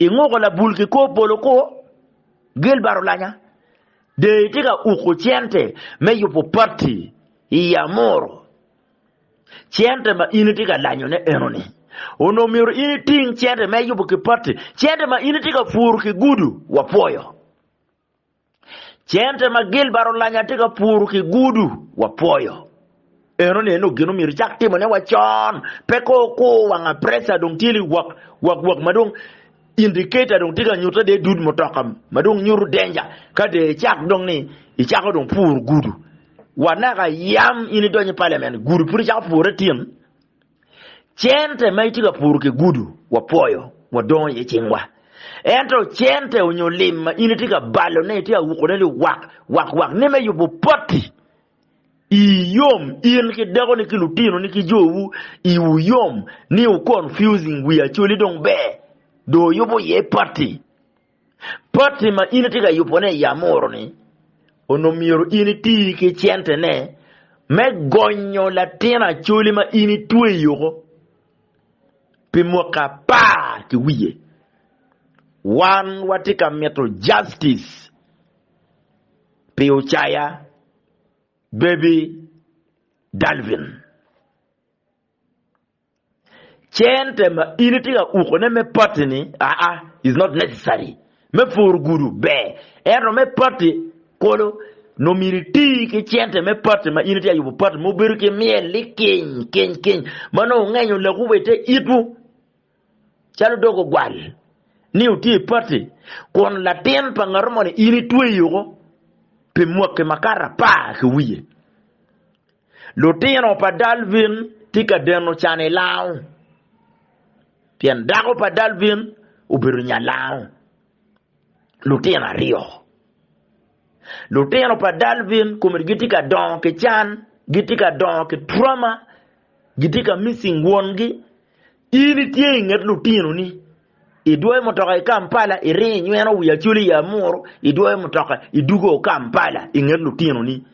Inguko labul ki kor polo kwo, Gilbert Olanya. Dee itye ka uko cente me yubo pati i Amuru. Cente ma in itye ka lanyone enoni. Onongo myero in iting cente me yubo ki pati. Cente ma in itye ka puru ki gudu, wapwoyo. Cente ma Gilbert olanya tye ka puru ki gudu wapwoyo. Eno ni eno gin omyero cak timo ne wa con, pe ko kur wanga pressure dong tye li wak wak wak ma dong indicator dong tye ka nyuta de dud mutoka ma dong nyutu danger ka de icak dong ni icako dong puru gudu wa naka yam in idonyo parliament gudu pud icako pure tin. Cente ma itye ka puro ki gudu wapwoyo, wadongo iye cingwa. Ento cente onyo lim ma in itye ka balone, itye ka wukone liwak wak wak ni me yubo potti i yom in ki dakoni ki lutinoni ki jowu iwu yom ni wu confusing wi acholi dong ber dong wuyubo iye potti Poti ma in itye ka yubone i Amuru-ni, onongo myero in iti ki centene me gonyo latin acoli ma in itweyoko pi mwaka apar ki wiye. Wan watye ka mito justice pi Ocaya Baby Dalvin. Cente ma in itye ka ukone me pati-ni aa is not necessary. Me puru gudu ber, ento me pati kolo nongo myero iti ki cente me pati ma in itye ka yubo pati ma obedo ki myel likic kic-kic ma nongo wungenyo lekwu wa ite itwu calo dog ogwal ni wutye i pati kun latin pa ngato moni in itweyo woko pi mwaki makar apar ki wiye. Lutino pa Dalvin tye ka deno can i lango pien dako pa Dalvin obedo nya lango lutino aryo. Lutino pa Dalvin kome gitye ka dongo ki can, gitye ka dongo ki trauma, gitye ka missing wongi, In itye i nget lutinoni, idwoyo mutoka i Kampala, iringo inyweno wi Acholi i Amuru, idwoyo mutoka idugo Kampala i nget lutinoni.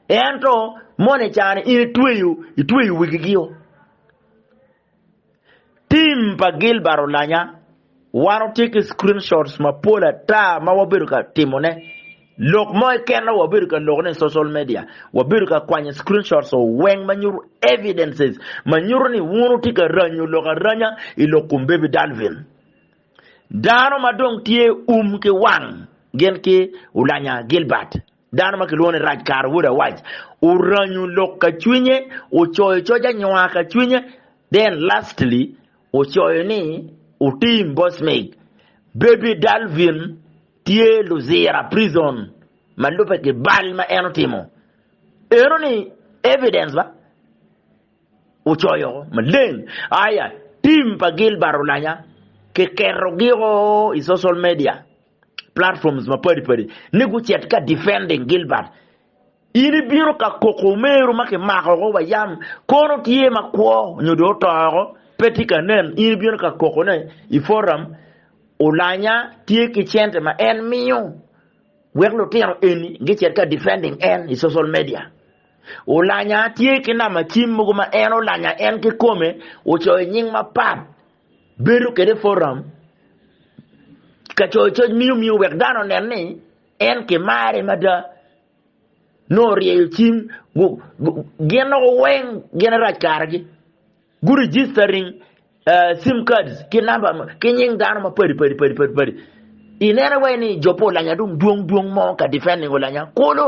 Ento mono i cani in itweyo, itweyo wigigio. Tim pa Gilbert olanya. Wan watye ki screenshots mapol ata ma wabedo ka timone lok mo keken ma wabedo ka lokone i social media. Wabedo ka kwanyo screenshots weng ma nyuto evidences ma nyuto ni wun wutye ka ranyo lok aranya i lok kom Baby Dalvin. Dano ma dong tye um ki wang gin ki Ulanya Gilbert. Dano ma kilwongo ni Rajkar wod Awaj oranyo lok ka cwinye, ocoyo coc anywa ka cwinye, then lastly ocoyo ni otim boss mig. Baby Dalvin tye Luzira prison ma lubbe ki bal ma en otimo. Eno ni evidence ba? Ocoyo maleng. Aya, team pa Gilbert Olanya kiketo gi o i social media platforms mapadi padi ni gucet ka defending Gilbert in ibino ka koko omeru ma kimako ko wa yam kono tye ma kwo nyo do otoko pe tye ka nen in ibino ka koko ne i forum olanya tye ki cente ma en miyo wek lutino eni gicet ka defending en i social media olanya tye ki nama cim mogo ma en olanya en ki kome ocoyo nying mapat bedo kede foram ka coyo coc miyo miyo wek dano onen ni en ki mare mada nongo ryeyo cim gin nongo weng gin arac karagi gu registering uh, sim cards ki namba ki nying dano ma padi padi padi padi padi inene wai ni jo pa olanya dong dwong dwong mo ka defending olanya kulu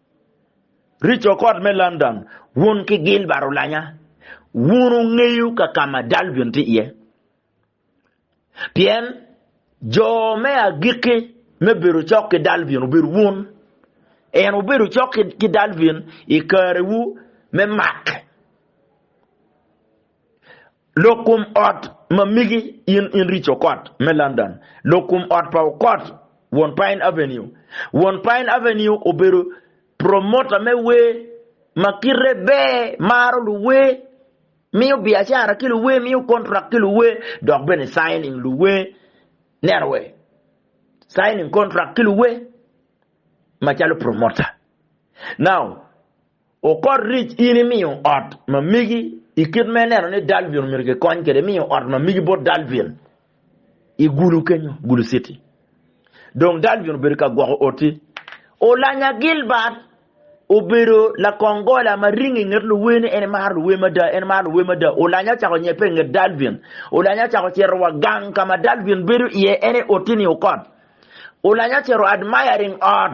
Richard ot me London, wun ki Gilbert Olanya, wun wungeyo ka ka ma Dalvin tye iye. Pien jo me agikki me bedo cok ki Dalvin obedo wun. En wubedo cok ki Dalvin i karewu me mak. Lokum ot ma migi in in Rich Okot me London, lokum ot pa Okot won Pine Avenue. Won Pine Avenue obedo promota me wer ma kite ber, maro luwer, miyo biacara ki luwer, miyo kontrak ki luwer, dok bene signing luwer, neno wer, signing kontrak ki luwer macalo promota. Now, Okot ric in imiyo ot ma megi i kit ma ineno ni Dalvin omyero kikony kwede, imiyo ot ma megi bot Dalvin i Gulu kenyo, Gulu City. Dong Dalvin obedo ka gwoko oti. Olanya Gilbert obedo lakong gola ma ringo i nget luwer ni en emaro luwer mada, en emaro luwer mada. Olanya ocako nyebbe i nget Dalvin. Olanya ocako cito wa gang ka ma Dalvin bedo iye, en i oti ni Okot. Olanya ocito admiring ot.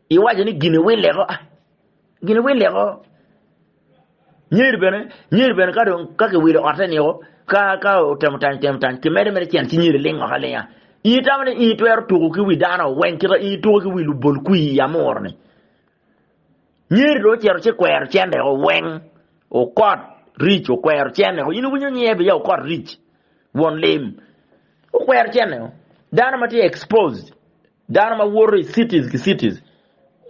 Iwaco ni gini wi leko, gini wi leko. Nyer bene, nyer bene ka dong ka kiwilo otte niko, ka ka otemo tany, temo tany, kimede mere cen ci nyer ling oko alinga. Ingi tamo ni ingi twero tuko ki wi dano weng kita ingi tuko ki wi lubol kwi i amur ni. Nyer do cero ci kwero cen reko weng okot ric okwero cen reko. Inu winyo nyer biya okot ric won lim. Okwero cen reko. Dano ma tye exposed Dano ma woto i cities ki cities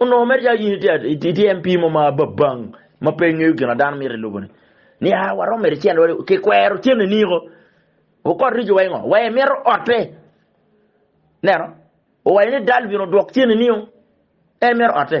onongo mere calo in itye MP mo ma babang ma pe ngeyo gin ma dano mito i lobone ni a waromo mere cen wade ki kwero cen ni niko wukot rico wa ingo wa imito otte neno owayo ni dal bino dwok cen ni niko en mito otte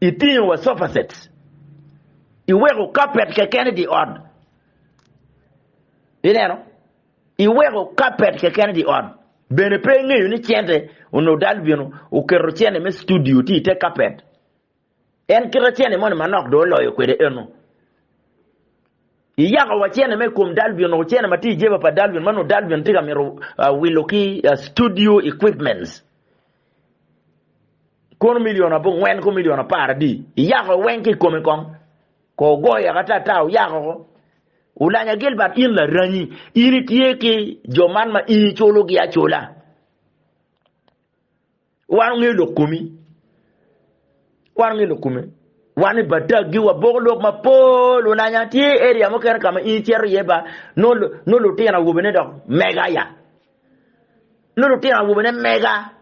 Itingo wa sofacet, iweko kapet keken i dye ot. Ineno, iweko kapet keken i dye ot. Bene pe ingeyo ni cente onongo dal bino oketo cente me studio tye i te kapet. En kita cente moni manok dong oloyo kwede eno. Iyako wa cente me kom dal bino, cente ma tye i jeba pa dal bino, ma nongo dal bino tye ka mito wilo ki studio equipments. Kono milion abongwen ku milion apar adi iyako weng ki i kome kong? Ko ogoyo yaka ata ata oyako ko. Ulanya Gilbert in laranyi, in itye ki jo man ma in iculogi acula. Wan ongeyo lok komi. Wan ongeyo lok kome. Wan i Bataggi waboko lok mapol ulanya tye area mukene ka ma in icito iye ba no lutino awobene dok mega ya. Nongo lutino awobene mega,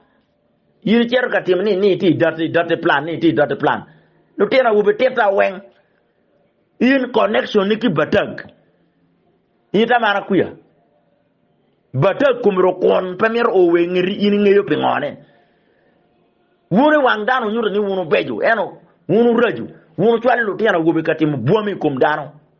in icito ka timo ni ni ti doti doti plan ni ti doti plan. Lutino awobe tita weng in connection ni ki batag. In tamara kuya. Batag kom ro kwon pe mito o we ngeti in ingeyo pi ngone. Wun i wang dano nyuto ni wun ubejo eno wun urajo wun ucwalo lutino awobe ka timo bwami i kom dano.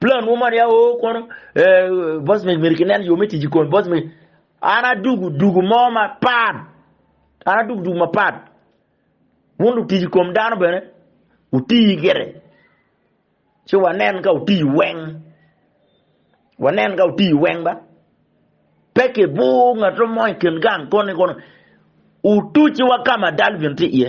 Plan mo man ya o kono eh, boss me mere kinen yo me tic i kon boss me an adugu dugu mo mapat an adugu dugu mapat wun lutic i kom dano bene utii gire ci wanen ka utii weng wanen ka utii weng ba pe ki bur ngato mo i kin gang koni kono utuc wa ka ma dal bene tye iye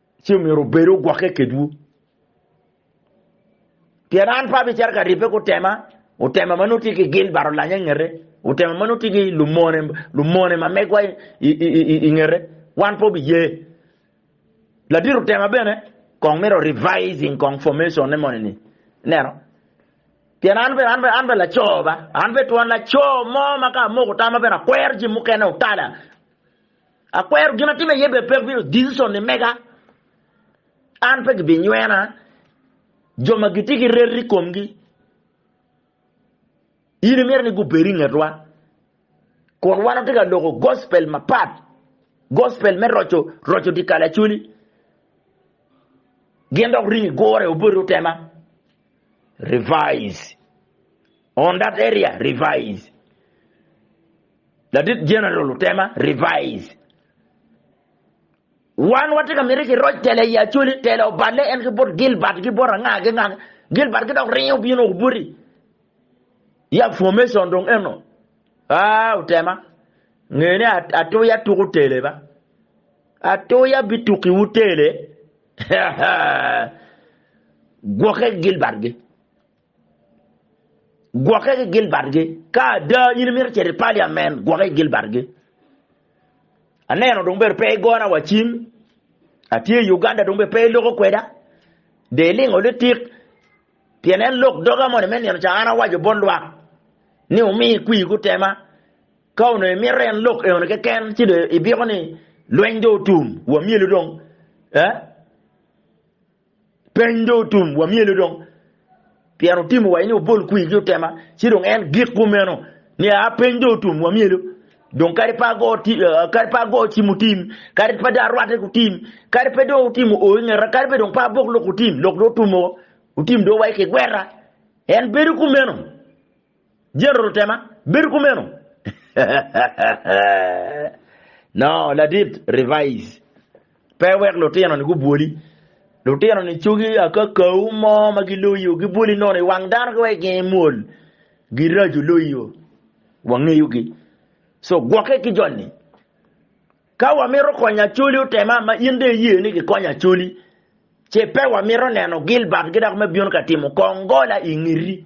ci omyero obed ogwokke kedwu. Pien an pe abicito ka ribbe ku tema, otema ma nongo tye ki gin baro lanya i ngete, otema ma nongo tye ki lumone, lumone ma megwa i ngete, wan pe obiye. Ladit otema bene kong mito revising kong formation ne moni ni. Neno. Pien an bene an bene an bene laco ba, an bene twon laco mo ma ka amoko tama bene akwero jin mukene otala. Akwero gin atimo iye bed pek bino decision ni mega, an pe gibinywena, jo ma gitye ki reto i komgi, in imito ni gubed i ngetwa, kun wan watye ka loko gospel mapat, gospel me roco roco dye kalacoli, gin dok ringo igure obedo tema. Revise. On that area revise Ladit General Otema revise Wan watye ka miti ki roc tela i Acholi, tela oballe en ki bot Gilbert ki bot anga ki anga. Gilbert ki dok ringe obino woko boti. Ya formation dong eno. Ah, Otema, nge ni Atuya tuku tele ba. Atuya bitukiwu tele. Gwoke Gilbert gi. Gwokke ki Gilbertgi. Ka ada in imito cito i Parliament, gwokke ki Gilbertgi. Aneno dong bedo pe igona wa cim. Atye i Uganda dong bedo pe iloko kweda. De ilingo litik. Pien en lok doga moni me nino ca an awaco bot lwak ni wumi kwir gutema. Ka onongo imito en lok eoni keken ci do ibiko ni lweny do otum. Wamyelu dong. Eh? Peny dong otum, wamyele dong, pien otimo wa ni obol kwi ki otema, ci dong en gik kumeno ni a peny dong otum, wamyele dong kadi pa go kadi pa go ci mutim kadi pa da rwate kutim kadi pe dong otimo o ingeta kadi pe dong pa bok lok otim lok do otumo otim do wa ki gwera en bedo kumeno Jeroto tema, bedo kumeno. No. Ladit, Revise. Pe iwek lutino-ni gubwoli. Lutino-ni cogi akakau mo ma giloyo, gibwoli nono i wang dano ki wa i genge mwol. Giraco loyo. Wangeyogi. So, gwokke ki joni. Ka wamito konyo Acholi otema ma in dong iye ni kikonyo Acholi, ce pe wamito neno Gilbert ki dako me bino ka timo kongola i ngeti.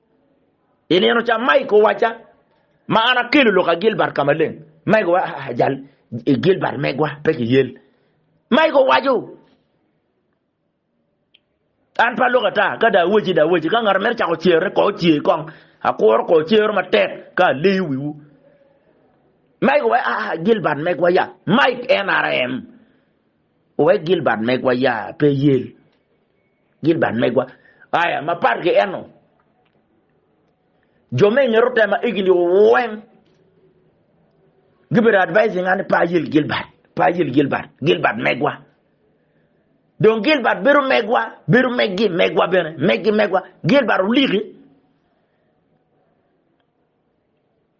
I nino ca Mike owacca, Ma an akelo lok a Gilbert ka maleng. Mike owaco, Ah, jal i Gilbert megwa pe kiyel. Mike owaco, An pe alok ata, ka dong awaci dong awaci. Ka ngat omito cako cere, ko ocer kong. Akuro ko cero matek ka aleyo wiwu. Mike owaco, Ah, ah, Gilbert megwa ya. Mike, NRM, owaco, Gilbert megwa ya pe yel. Gin bad megwa. Aya, mapat ki eno, jo me inget otema egini weng gibedo advising ani pa ayel Gilbert, pa ayel Gilbert, Gilbert megwa. Dong Gilbert bedo megwa, bedo meggi megwa bene, meggi megwa. Gilbert oliki.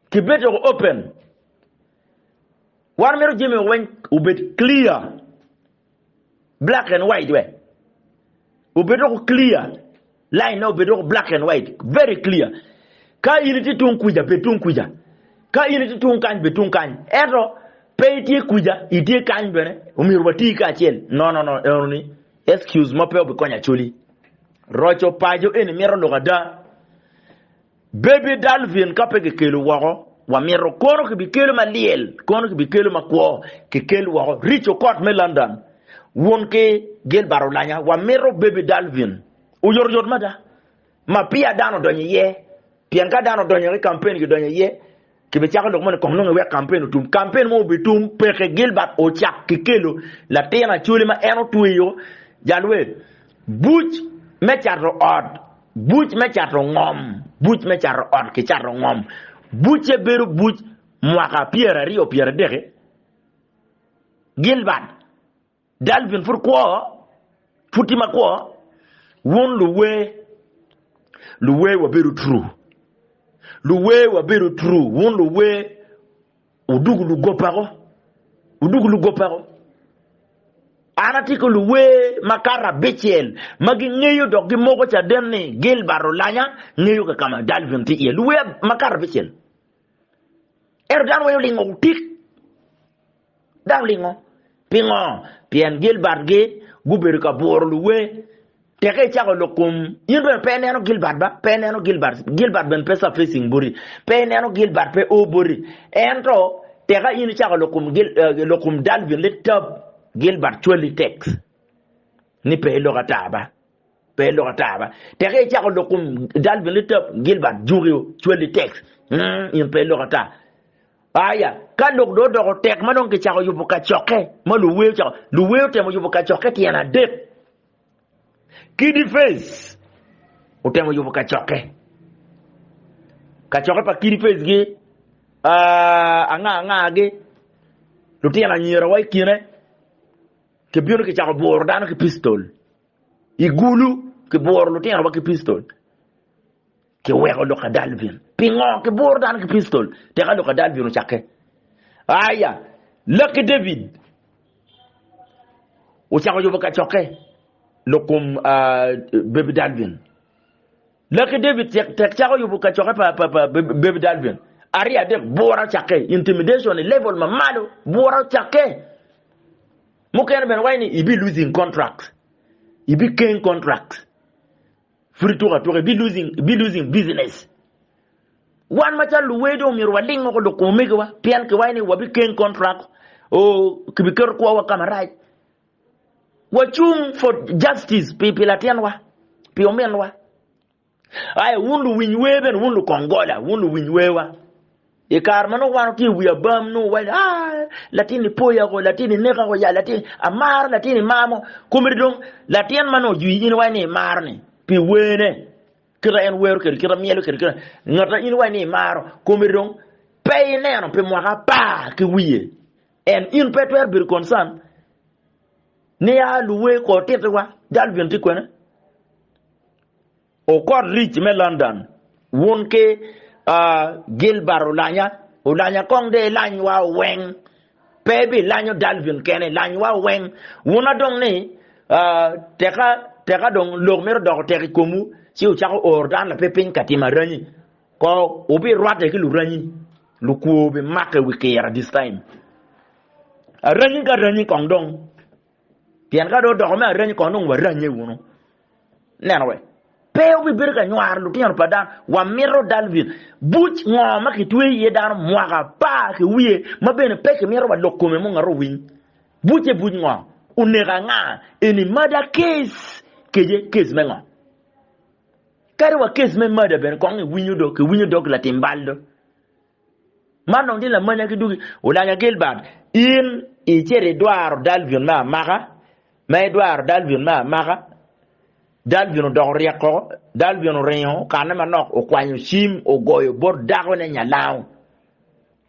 kibedo woko open. Wan mito jami woko weng obed clear, black and white we. Obed woko clear, line ne obed woko black and white, very clear. Ka in iti tung kuja, bed tung kuja. Ka in iti tung kany, bed tung kany. Eto, pe itye kuja, itye kany bene, omyero wati ka acel. No, no, no, eno ni, excuse mo pe obikonyo acoli. Roco pajo eni mito lok ada. Baby Dalvin ka pe kikelo woko, wamito kono kibikelo ma lyel, kono kibikelo ma kwo, kikel woko. Rich Okot me London, wun ki Gilbert Olanya, wamito Baby Dalvin oyotoyot mada, ma peya dano odonyo iye, pien ka dano odonyo ki kampen gidonyo iye, Kibicako lok moni kong nongo iwek kampen otum. Kampen mo obitum peke Gilbert ocak ki kelo latin acoli ma en otweyo jalwe buc me cato ot, buc me cato ngom, buc me cato ot ki cato ngom. Bucce bedo buc mwaka pyeraryo-pyeradek-ki. Gilbert. Dalvin pud kwo, pud tye ma kwo. Wun luwer, luwer wabedo true. Luwer wabedo true. Wun luwer udugu lugopako. Udugu lugopako. An atye ki luwer makato abicel ma gingeyo dok gimoko caden ni Gilbert Olanya ngeyo ka ma Dalvin tye iye. Luwer makato abicel. Ento dano weng olingo otik. Dok lingo? Pingo? Pien Gilbert-gi gubedo ka buro luwer. Teke icako lok kom, in bene pe ineno Gilbert ba? Pe ineno Gilbert? Gilbert bene pe surfacing boti. Pe ineno Gilbert pe o boti. Ento, teka in icako lok kom, eh, lok kom Dalvin, litab Gilbert cwali teks ni pe ilok ata ba? Pe ilok ata ba. Teke icako lok kum dal bene litap Gilbert juki cwali tex. Mm, in pe ilok ata. Aya, ka lok do odoko tek ma dong kicako yubo kacokke ma luwe ocako, luwe otemo yubo kacokke tyen adek. Kidi Fez otemo yubo kacokke. Kacokke pa Kidi Fez gi uh, anga anga gi lutino anyira wa ikine Kibino kicako bworo dano ki pistol i gulu, kibworo lutinowa ki pistol, kiweko Luka Dalvin. Pingo kibworo dano ki pistol teka Luka Dalvin ocakke? Aya, Lucky David ocako yubo kacokke lok kom Baby Dalvin. Laki David tek tek cako yubu kacokke pa pa pa baby dalvin aryo adek bwura ocakke intimidation i level ma malo bwura ocakke mukene bene waci ni ibi losing contract ibi keng contract pud ituko atuka ibi losing ibi losing business wan macal luwer dong myero waling oko loko omegiwa pien kiwaci ni wabi keng contract o kibiketo kwowa ka marac Wacung for justice pi pi latinwa, pi ominwa. Aya wun luwiny wer bene, wun lukongola, wun luwiny werwa. I kare ma nongo wan watye i wi abam nongo wai ah latini poya ko latini neka ko ya latini amaro latini mamo komedi dong latin ma nongo ojwi in wai ni imaro ni pi wene kita en wero kedi kita myelo kedi kita ngata in wai ni imaro komedi dong pe ineno pi mwaka apar ki wiye En, in pe itwero bedo concern ni ya luwe kor titi wa jal bin tye kwene. Okot Rich me London wun ki uh, Gilbert Olanya, Olanya kong de ilany wa weng. Pe bi lanyo Dalvin kene, lany wa weng. Wun adong ni uh, teka teka dong lok mito doko tek i komu ci ucako or dan lape piny ka timo aranyi. Kor wubirwatte ki luranyi, lukwo bimake wi kira this time. Aranyi ka ranyi kong dong. Pien ka do odoko me aranyi kong dong waranye wunu. Neno we. Pe wubibedo ka nywaro lutino pa dano. Wamito Dalvin. Buc ngo ma kitweyo iye dano mwaka apar ki wiye ma bene pe kimito wa lok kome munga ro winy. Bucce buc ngo? Oneko anga? Eni murder case? Kece case me ngo? Kadi wa kes me mada bene kong iwinyo dok kiwinyo dog latim bal do. Man dong tye lamanya ki dugi. Olanya Gilbert, in icito idwaro Dalvin me amaka, ma idwaro Dalvin me amaka, Dalvin odoko ryek koko, Dalvin oringo okanne manok, okwanyo cim, ogoyo bot dakone nyalango.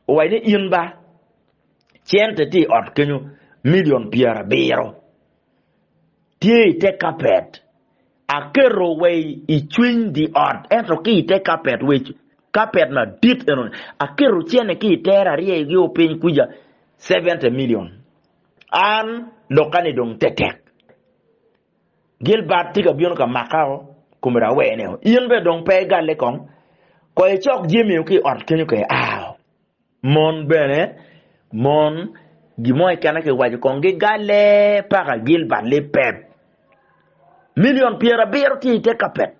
Owaci ni in ba, cente tye i ot kenyo, milion pyerabiro. Tye i te kapet. Aketo wa i cwiny dye ot, ento ki i te kapet wec, kapet madit eno ni, aketo cene ki i tere aryeyogio piny kwica, seventy million. An, lokka-ni dong tetek. Gilbert tye ka bino ka makao, kome raweneo. In bene dong pe igalle kong? Koy icok jamio ki i ot kenyo ka iao. Mon bene, mon, gin mo keken na kiwaco kong gigale paka Gilbert lipeb milion pyerabiro tye i te kapet.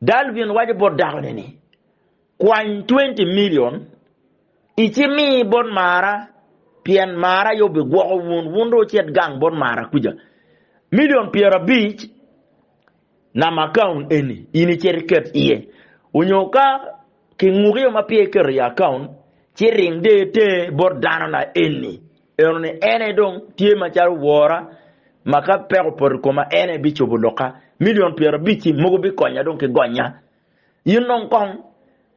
Dalvin waco bot dakone ni, Kwany twenty milion icimi bot Mara pien Mara aye obigwoko wun, wun dong wucit gang bot Mara kuca. Milion pyerabic. Nam akaun eni in icit iket iye onyo ka ki ngukiyo ma peya iketo i akaun ci ring der tenge bot dano na eni eno ni en aye dong tye macalo wora ma ka peko opoto i koma en aye bicobo loka milion pyerabic-ci mogo bikonya dong ki gonya. In dong kong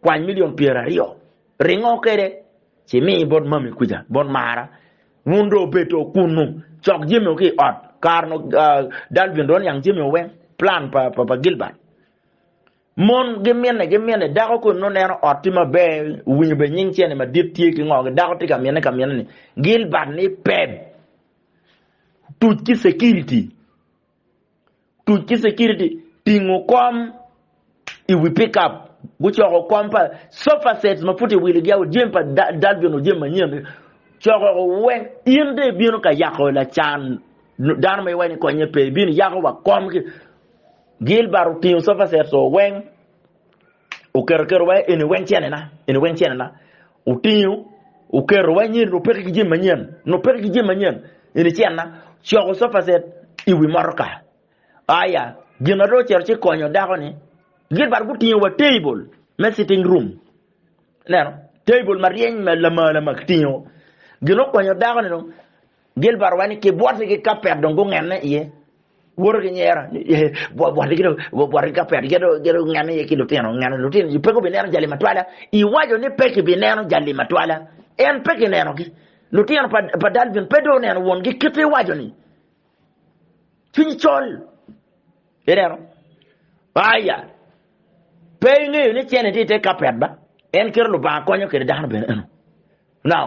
kwany milion pyeraryo ringo kwede ci mi bot mami kwica bot mara. Wun dong wubedo kunnu, cok jamiwu ki i ot. Kare-nu dal bino dong niang jamiwu weng, plan pa Gilbert. Mon gimine gimine, dako koni nongo neno ot tye maber, owinyo bene nying cene madit tye ki ngo, dako tye ka mine ka mine ni Gilbert ni peb tuc ki security. tuc ki security tingo kom i wi pickup gucoko kom pa sofa sets ma pud i wilo gia jami pa dal bino jami manyen coko weng in de ibino ka yako lacan dano ma iwaco ni konye pe ibino yako wa kom ki Gilbert otingo sofa sets weng Oketo keto wa eni weng cene-na, eni weng cene-na. Otingo, oketo wa nyiri nupeki ki jami manyen, nupeki ki jami manyen, eni cene-na. Coko sofacet i wi motoka. Aya, gin ma dong ocito ci konyo dako-ni, gin badu gutingo wa table me sitting room, ineno, table ma ryeny ma lama lama kitingo. Gin okonyo dako-ni dong, Gilbert wa ni ki bwote ki kapet dong gungenne iye. Woto ki nyera, bwot ki dong bwot ki kapet gito gito ngene ye ki lutino ngene lutino ji peko bineno jali matwala iwajo ni peki bineno jali matwala en peki neno gi lutino pa pa Dalvin pe do neno won gi kite iwajo ni cwiny col ineno aya pe ingeyo ni cene ti te kapet ba en kiro lubanga konyo kede dano bene eno now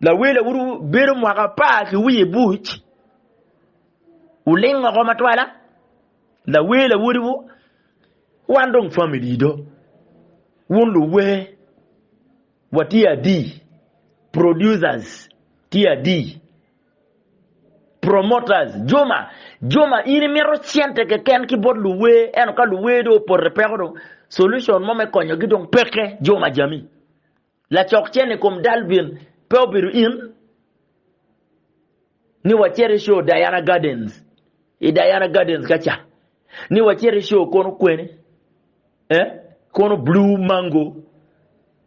Lawila uru bedo mwaka apar ki wiye buc, wuling oko matwala, lawila wodiwu, wan dong famili do, wun luwer, watye adi, producers tye adi, promoters, Juma, Juma in imito cente keken ki bot luwer, ento ka luwer dong opoto peko dong solution mo me konyogi dong peke, Juma Jami. Lacok cen i kom dal bin pe obedo in? Ni wacit i show Diana Gardens, i Diana Gardens ka ca. Ni wacit i show kono kweni, eh, kono Blue Mango,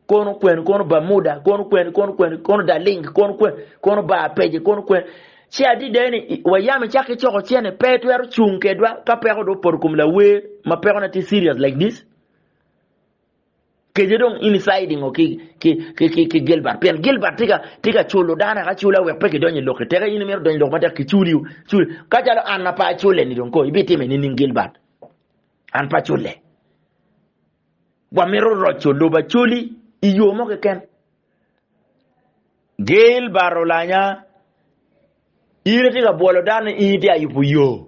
kono kweni, kono Bermuda, kono kweni, kono kweni, kono Darling, kono kweni, kono Bar Peje, kono kweni. Ci adida ni, i- wayam icak ki coko cene, pe itwero cung kedwa ka peko dong opoto kom lawer ma pekone tye serious like this. Kece dong in icide ngo ki ki ki ki, ki Gilbert pien Gilbert tye ka tye ka culo dano eka cula wek pe kidonyo i lok ki teke in imito donyo i lok matek kiculiu cul ka calo an ma pe acule ni dong ko ibitime nining Gilbert an pe acule wamito roco lobo acoli i yo mo keken Gail Barra Olanya, In itye ka bwolo dano ni in itye ka yubo yo,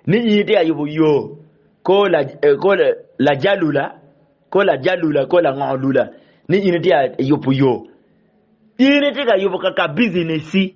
ni in itye ka yubo yo ko lajalula, ko lajalula, ko lango lula, ni in itye ka yubo yo. In itye ka yubo kaka bicineci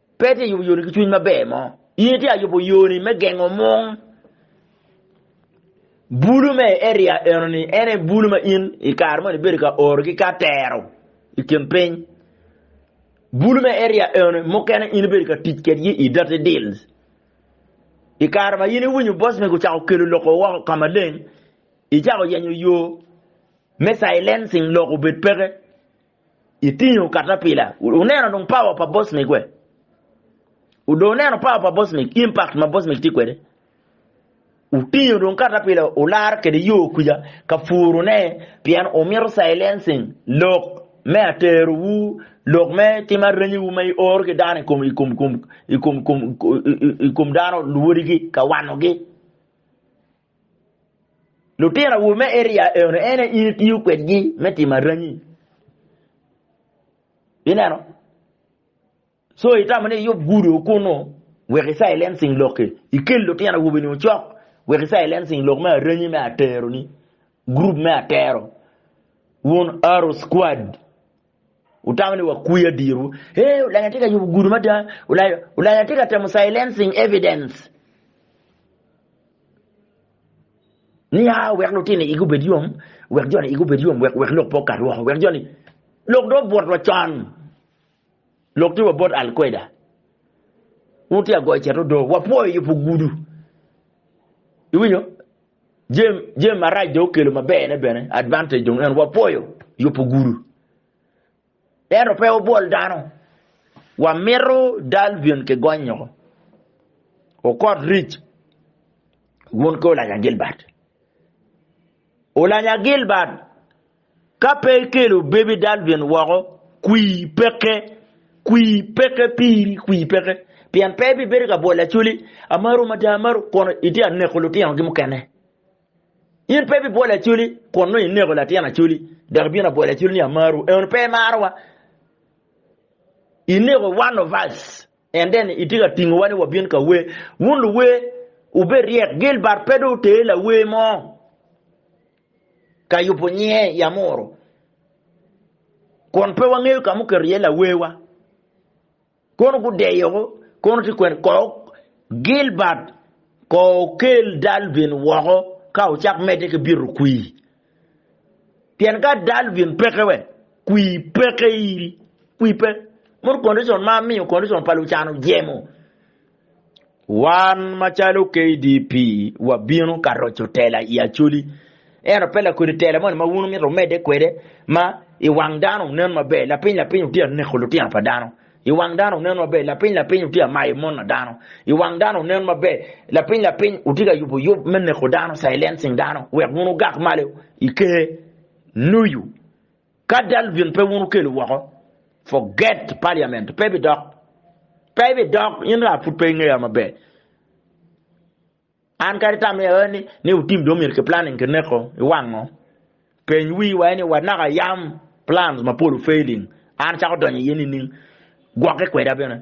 Pe tye yubo yoni ki cwiny maber mo. In itye ka yubo yoni me gengo mung. Bulu me i area enoni en aye bulu ma in i kare moni ibedo ka oro ki ka tero i kin piny. Bulu me area enoni mukene in ibedo ka tic kedgi i dirty deals. I kare ma in iwinyo boss mego ocako kelo loko woko ka maleng, icako yenyo yo me silencing lok obed peke. Itingo katapila. Wuneno dong power pa Bosmic we? Udong wuneno power pa Bosmic, impact ma Bosmic tye kwede? Wutingo dong katapila wularo kwede yo kuca ka purune pien wumito silencing lok me aterowu, lok me tim arenyiwu ma ioro ki dano i kom i kom kom i kom i kom i kom dano luwodigi ka wanogi. Lutino awobe me eria eno en aye in itiyo kwedgi me timo arangi. Ineno? So itamo ni iyub gudo kunu wek i silencing lokki, ikel lutino awobe-ni ocok wek i silencing lok me arangi me atero-ni, group me atero, wun Arrow Squad. Wutamo ni wakwiya dirwu. Ee, olanya tye ka yubo gudo mada. Olanya, olanya tye ka temo silencing evidence. Niya, wek lutino igi obed yom, wek joni igi obed yom, wek, wek lok pe okat woko, wek joni... Lok do obwot wa con. Lok tye wa bot Al-Qaeda. Wun tye agoyo ceto do. Wapwoyo yubo gudo. Iwinyo? Jem, jem marac dong okelo maberne bene, advantage dong en wapwoyo yubo gudu. Ento pe wabwol dano. Wamito Dalvin ki gonyo ko. Okot ric. Wun ki Olanya Gilbert. Olanya Gilbert Ka pe ikelo Baby Dalvin woko, kwir peke. Kwir peke piri, kwir peke. Pien pe ibibedo ka bwolo Acholi, amaro mada amaro, kun itye ka neko lutinogi mukene. In pe ibibwolo Acholi, kun nongo ineko latin Acholi, dok ibino ka bwolo Acholi ni amaro, eno pe imarowa. Ineko one of us, and then itye ka tingowa ni wabin ka wer. Wun luwer, wubed ryek, Gilbert pe dong oter lawer mo. ka yubo nyinge i amuru, kun pe wangeyo ka ma oketo iye lawewa. Kono gudeyo kono tye kwene ko Gilbert ko okel Dalvin woko ka ocak medde ki bito kwir. Pien ka Dalvin peke we kwir peke iri, kwir pe. Mono condition ma miyo condition pa Lucan ojemo. Wan macalo KDP wabino ka roco tela i Acholi ento pe lakodi tela moni ma wun wumito wumedde kwede ma i wang dano wunen maber lapiny lapiny wutye ka neko lutino pa dano i wang dano wunen maber lapiny lapiny wutye ka mayo mon na dano i wang dano wunen maber lapiny lapiny wutye ka yubo yub me neko dano silencing dano wek wun wugak malo i ker nuyu Ka Dalvin pe wun okelo woko, forget parliament pe bidok. Pe bidok, in raa pud pe ingeya maber. An kadi tam iye ni, ni wutim dong myero ki planning ki neko iwango. Peny wi wa ni wa naka yam plans mapol failing, an acako donyo iye nining? Gwokke kweda bene.